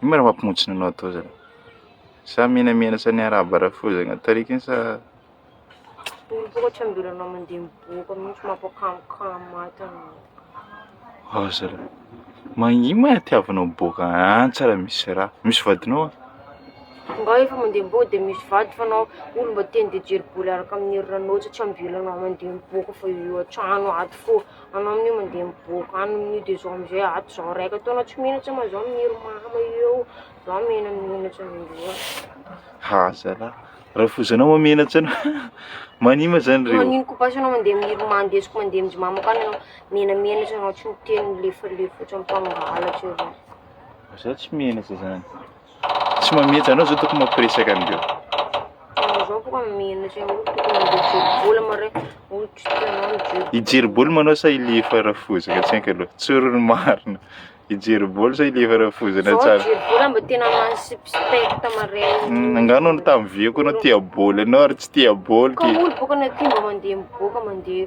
Ino ma raha mampimontsina anao atao zany? Sa menamena sa ny arabo harafozagna tarika igny sa Mivoatra mbola anao mandeha miboaka mihitsy mampikamokamo ato anao. Ao zalahy. Magni ma tiavanao miboaka any tsara misy raha. Misy vadinao an? Nga efa mandeha miboaka dia misy vady fa anao olo mba te handeha hijery bôly araka amin'ny hery ranao satria mbola anao mandeha miboaka fa eo eo an-trano ato fô. Anao amin'io mandeha miboaka any amin'io de zao am'zay ato zao raika taona tsy mino tsy ma zao miniry mama eo, zao mena mino tsy amindreo. Ha zalahy, rafozanao ma mena tsy anao mania ma zany reo. Manino ko basy anao mandeha miniry ma ndesiko mandeha amin'jy mamako any anao mena mena tsy anao tsy miteny lefalefotra mifangalatra eo zany. Za tsy mena za zany. Tsy mametra anao zao tokony mampiresaka an'ireo. Zao boka menatra eo tokony mijery bola mare. Hijery bola manao sa ile efa rafozana tsy haiko aloha. Tsoro ny marina. Hijery bola sa ile efa rafozana tsara. Zao hijery bola mba tena mansipispekta mare. Hmm, angano no tamin'ny vieko anao tia bola ianao ary tsy tia bola. Ka olo boka na tia mba mandeha miboaka mandeha.